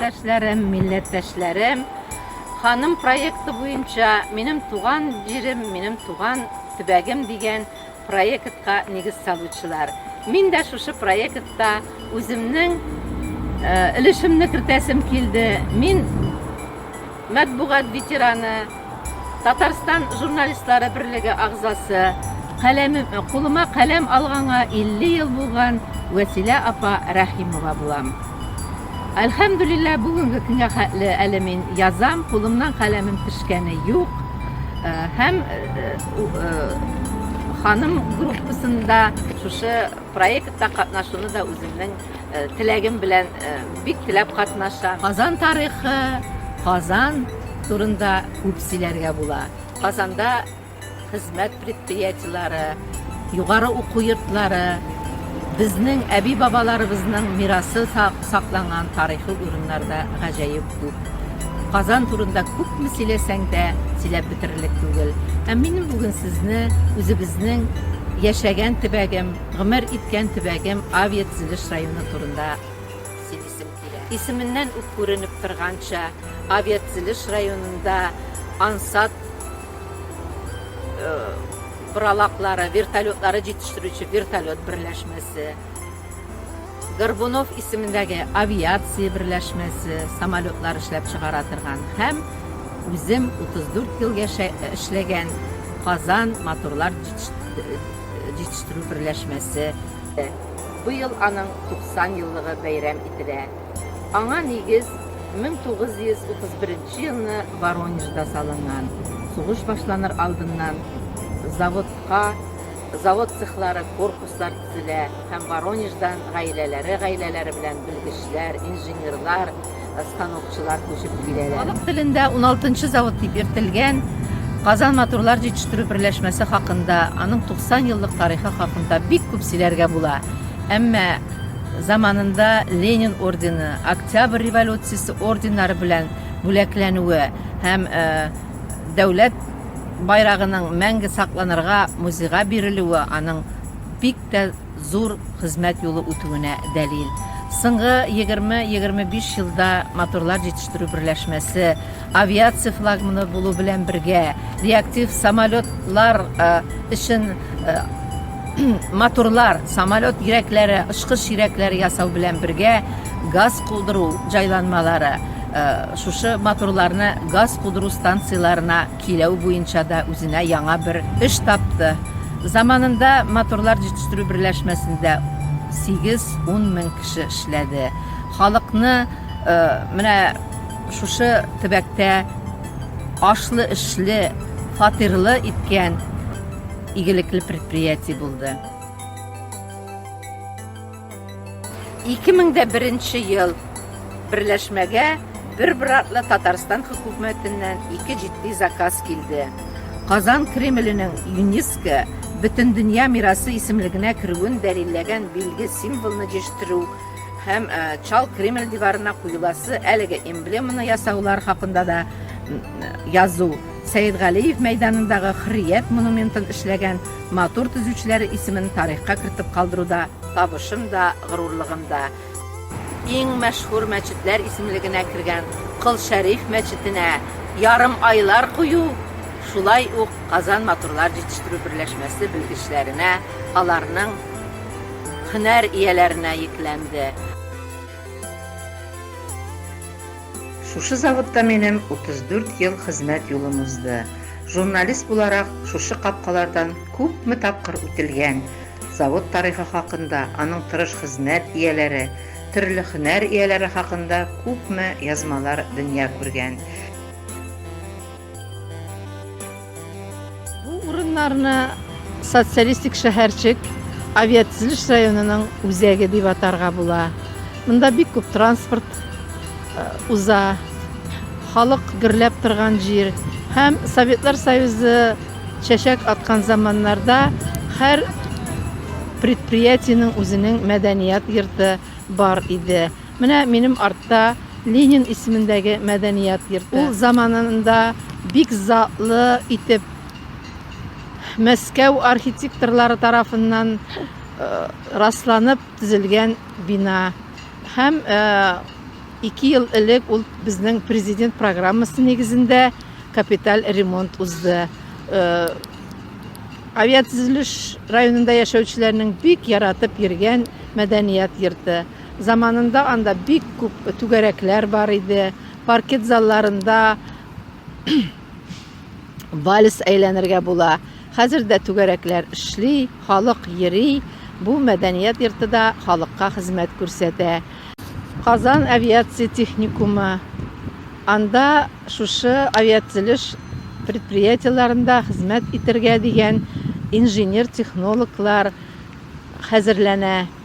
Кардәшләрем, милләттәшләрем, ханым проекты буенча минем туган җирем, минем туган төбәгем дигән Проектка нигез салучылар. Мин дә шушы проектта үземнең өлешемне кертәсем килде. Мин матбугат ветераны, Татарстан журналистлары берлеге агзасы. Каләмем, кулыма каләм алганга 50 ел булган Вәсилә апа Рәхимова булам. Әлхәмдүлиллә, бүгенге көнгә хәтле әле мин язам, кулымнан каләмем төшкәне юк. Һәм Ханым группасында шушы проектта катнашуны да үземнең теләгем белән бик теләп катнаша. Казан тарихы, Казан турында күп сөйләргә була. Казанда хезмәт предприятиеләре, югары уку йортлары, безнең әби-бабаларыбызның мирасы Сакланган тарихи урыннар да гаҗәеп күп. Казан турында күпме сөйләсәң дә, сөйләп бетерерлек түгел. Ә минем бүген сезне үзебезнең яшәгән төбәгем, гомер иткән төбәгем Авиатөзелеш районы турында сөйлисем килә. Исеменнән үк күренеп торганча, Авиатөзелеш районында ансат боралаклары, вертолетлары җитештерүче вертолет берләшмәсе, Горбунов исемендәге авиация берләшмәсе самолетлар эшләп чыгара торган һәм үзем 34 ел яшә эшләгән Казан моторлар җитештерү берләшмәсе дә быел аның 90 еллыгы бәйрәм ителә. Аңа нигез 1931 елны Воронежда салынган, сугыш башланыр алдыннан заводка, Завод цехлары, корпуслар төзелә һәм Воронеждан гаиләләре гаиләләре белән белгечләр, инженерлар, станокчылар күчеп киләләр. Халык телендә уналтынчы завод дип йөртелгән Казан моторлар җитештерү берләшмәсе хакында, аның 90 еллык тарихы хакында бик күп сөйләргә була. Әмма заманында Ленин ордены, Октябрь революциясе орденнары белән бүләкләнүе һәм Дәүләт байрагының мәңге сакланырга музейга бирелүе аның бик тә зур хезмәт юлы үтүенә дәлил. Соңгы егерме-егерме биш елда моторлар җитештерү берләшмәсе, авиация флагманы булу белән бергә, реактив самолетлар өчен Моторлар, самолет йөрәкләре, очкыч йөрәкләре ясау белән бергә газ кудыру җайланмалары шушы моторларны газ кудыру станцияләренә киләү буенча да үзенә яңа бер эш тапты. Заманында моторлар җитештерү берләшмәсендә 8-10 мең кеше эшләде. Халыкны менә шушы төбәктә ашлы-эшле, фатирлы иткән Игелекле предприятие булды. 2001 ел берләшмәгә бер братлы Татарстан хөкүмәтеннән ике җитди заказ килде. Казан Кремленең ЮНЕСКО бөтен дөнья мирасы исемлегенә керүен дәлилләгән билге символны җиштү һәм э, Чал Кремль диварына куеласы әлеге эмблеманы ясаулар хакында да язу. Сәетгалиев мәйданындагы Хөррият монументын эшләгән матур төзүчеләре исемен тарихка кертеп калдыруда табышым да, горурлыгым да. Иң мәшһүр мәчетләр исемлегенә кергән Кол Шәриф мәчетенә ярым айлар кую, шулай ук Казан матурлар җитештерү берләшмәсе белгечләренә, аларның һөнәр ияләренә йөкләнде. Шушы заводта минем 34 ел хезмәт юлым узды. Журналист буларак, шушы капкалардан күпме тапкыр үтелгән. Завод тарихы хакында, аның тырыш хезмәт ияләре, төрле хөнәр ияләре хакында күпме язмалар дөнья күргән. Бу урыннарны социалистик шәһәрчек авиатөзелеш районының үзәге дип атарга була. Монда бик күп транспорт э, уза, халык гөрләп торган җир һәм Советлар Союзы чәчәк аткан заманнарда һәр предприятиенең үзенең мәдәният йорты бар иде. Менә минем артта Ленин исемендәге мәдәният йорты. Ул заманында бик затлы итеп Мәскәү архитекторлары тарафыннан расланып төзелгән бина. Һәм ике ел элек ул безнең президент программасы нигезендә капиталь ремонт узды. Авиатөзелеш районында яшәүчеләрнең бик яратып йөргән мәдәният йорты. Заманында анда бик күп түгәрәкләр бар иде, паркет залларында вальс әйләнергә була. Хәзер дә түгәрәкләр эшли, халык йөри, бу мәдәният йорты да халыкка хезмәт күрсәтә. Казан авиация техникумы, анда шушы авиатзелеш предприятиеларында хезмәт итәргә дигән инженер-технологлар хәзерләнә.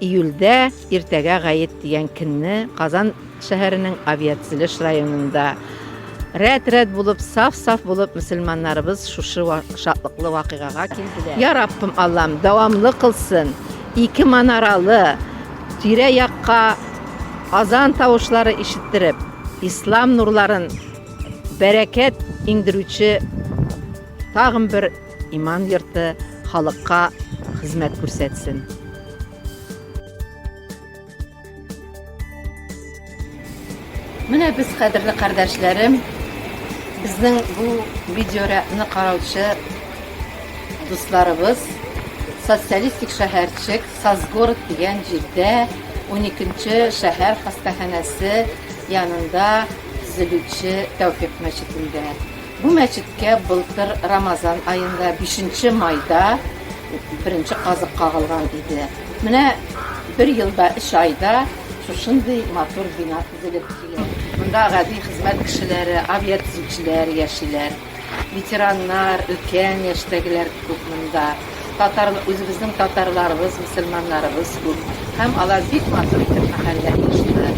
Июльдә иртәгә гает дигән көнне Казан шәһәренең Авиацилеш районында рәт-рәт булып, саф-саф булып мөселманнарыбыз шушы шатлыклы вакыйгага килделәр. Я Раббым Аллам, дәвамлы кылсын. Ике манаралы тирә-якка азан тавышлары ишеттереп, ислам нурларын бәрәкәт иңдерүче тагын бер Иман йорты халыкка хезмәт күрсәтсен. Менә без кадерле кардәшләрем, безнең бу видеоряны караучы дусларыбыз социалистик шәһәрчек Сазгород дигән җирдә 12-нче шәһәр хастаханәсе янында төзелүче Тәүфик мәчетендә. Бу мәчеткә былтыр Рамазан аенда, бишенче майда беренче казык кагылган иде. Менә бер елда, өч айда шушындый матур бина төзелеп килә. Монда гади хезмәт кешеләре, авиатөзүчеләр яшиләр, ветераннар, өлкән яшьтәгеләр күп монда. Татар, үзебезнең татарларыбыз, мөселманнарыбыз күп. Һәм алар бик матур итеп мәхәллә оештыра.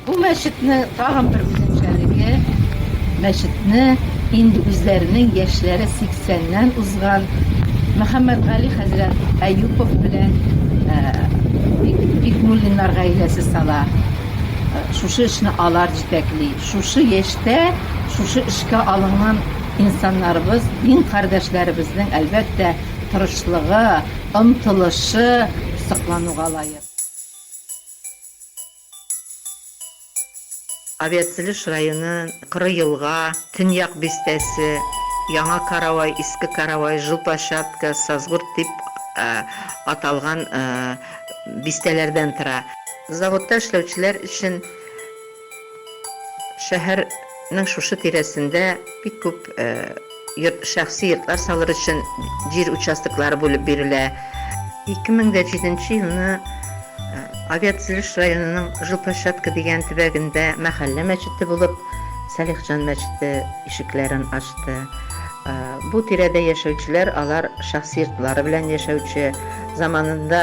Бу мәчетнең тагын бер үзенчәлеге, мәчетне инде үзләренең яшьләре 80 ннән узган Мөхәммәтгали хәзрәт Әюпов белән Бикмуллиннар гаиләсе сала. Шушы эшне алар җитәкли. Шушы яшьтә шушы эшкә алынган инсаннарыбыз, дин кардәшләребезнең, әлбәттә, тырышлыгы, омтылышы соклануга лаек. Авиацелеш районы, Коры елга, Төньяк бистәсе, Яңа Каравай, Иске Каравай, Жопа-Чатка, Сазгорт дип аталган бистәләрдән тора. Заводта эшләүчеләр өчен Шәһәр нең шушы тирәсендә бик күп йорт, шәхси йортлар салыр өчен җир участоклары бүлеп бирелә. 2007 елны Авиатөзелеш районының Жилплощадка дигән төбәгендә мәхәллә мәчете булып Салихҗан мәчете ишекләрен ачты. Бу тирәдә яшәүчеләр алар шәхси йортлары белән яшәүче, заманында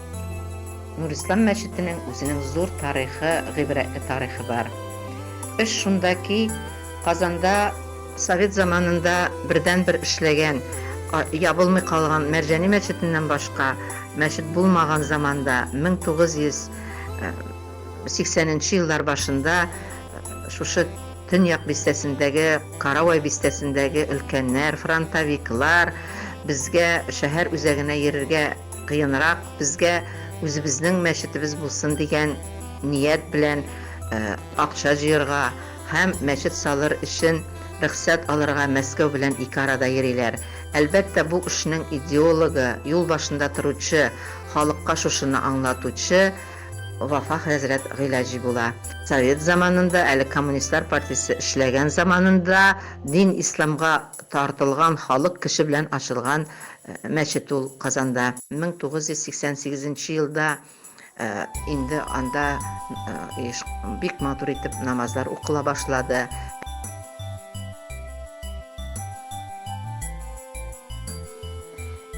Нурислам мәчетенең үзенең зур тарихы, гыйбрәтле тарихы бар. Эш шунда ки, Казанда, совет заманында бердәнбер эшләгән, ябылмый калган Мәрҗани мәчетеннән башка мәчет булмаган заманда, 1980 нче еллар башында шушы Төньяк бистәсендәге, Каравай бистәсендәге өлкәннәр, фронтовиклар безгә шәһәр үзәгенә йөрергә Кыенрак безгә үзебезнең мәчетебез булсын дигән ният белән акча җыерга һәм мәчет салыр өчен рөхсәт алырга Мәскәү белән ике арада йөриләр. Әлбәттә, бу эшнең идеологы, юл башында торучы, халыкка шушыны аңлатучы Вафа хәзрәт Гыйләҗи була. Совет заманында, әле коммунистлар партиясе эшләгән заманында дин исламга тартылган халык кеше белән ачылган Мәчет ул Казанда. 1988 нче елда инде анда бик матур итеп намазлар укыла башлады.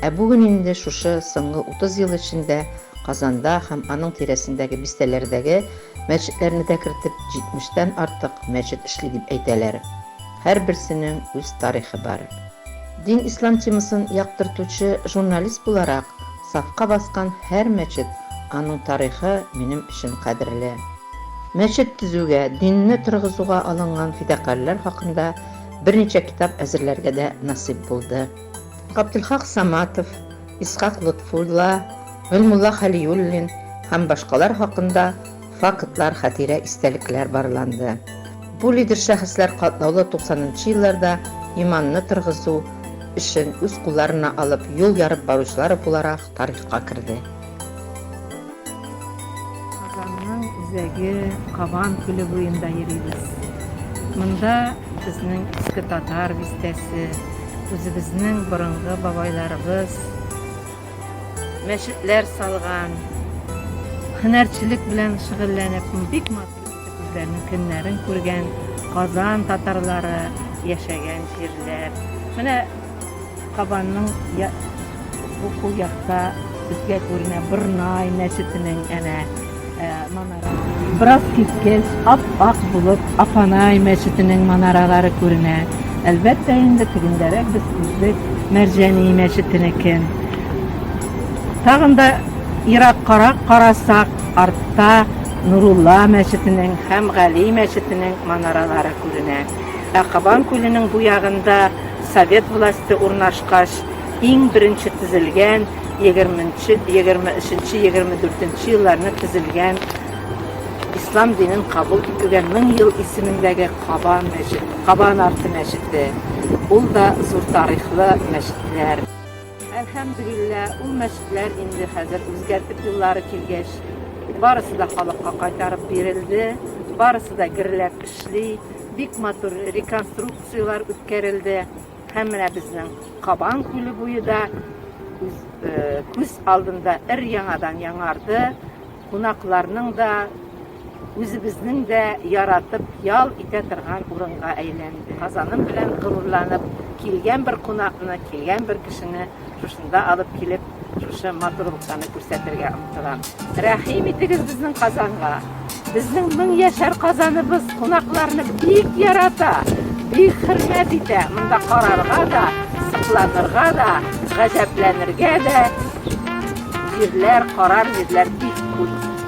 Ә бүген инде шушы соңгы 30 ел эчендә Казанда һәм аның тирәсендәге бистәләрдәге мәчетләрне дә кертеп, 70 тән артык мәчет эшли дип әйтәләр. Һәрберсенең үз тарихы бар. Дин ислам темасын яктыртучы журналист буларак, сафка баскан һәр мәчет, аның тарихы минем өчен кадерле. Мәчет төзүгә, динне торгызуга алынган фидакарьләр хакында берничә китап әзерләргә дә насыйп булды. Габделхак Саматов, Исхак Лотфулла, Гыйльмулла Хәлиуллин һәм башкалар хакында фактлар, хатирә, истәлекләр барланды. Бу лидер шәхесләр катлаулы 90 нчы елларда иманны торгызу эшен үз кулларына алып, юл ярып баручылар буларак тарихка керде. Казанның үзәге Кабан күле буенда йөрибез. Монда безнең Иске Татар бистәсе, үзебезнең борынгы бабайларыбыз. мәчетләр салган, һөнәрчелек белән шөгыльләнеп, бик матур итеп үзләренең көннәрен күргән Казан татарлары яшәгән җирләр. Менә Кабанның бу кул якта безгә күренә Борнай мәчетенең әнә Бераз киткәч, ап-ак булып, Апанай мәчетенең манаралары күренә. Әлбәттә инде тегендәрәк без күрдек Мәрҗани мәчетенекен. Тагын да ераккарак карасак, артта Нурулла мәчетенең һәм Гали мәчетенең манаралары күренә. Ә Кабан күленең бу ягында совет власте урнашкач, иң беренче төзелгән егерменче, егерме өченче, егерме дүртенче елларны төзелгән ислам динен кабул итүгә мең ел исемендәге Каба мәчет, Кабан арты мәчете. Ул да зур тарихлы мәчетләр. Әлхәмдулилла, ул мәчетләр инде хәзер үзгәртеп юллары килгәч, барысы да халыкка кайтарып бирелде, барысы да герләп эшли, бик матур реконструкцияләр үткәрелде. Һәм менә безнең Кабан күле буе да күз алдында өр-яңадан яңарды, кунакларның да, үзебезнең дә яратып ял итә торган урынга әйләнде. Казаным белән горурланып, килгән бер кунакны, килгән бер кешене Шушында алып килеп, шушы матурлыктаны күрсәтергә омтылам. Рәхим итегез безнең Казанга. Безнең мең яшәр Казаныбыз кунакларны бик ярата, бик хөрмәт итә. Монда карарга да, сокланырга да, гаҗәпләнергә дә җирләр, карар җирләр бик күп.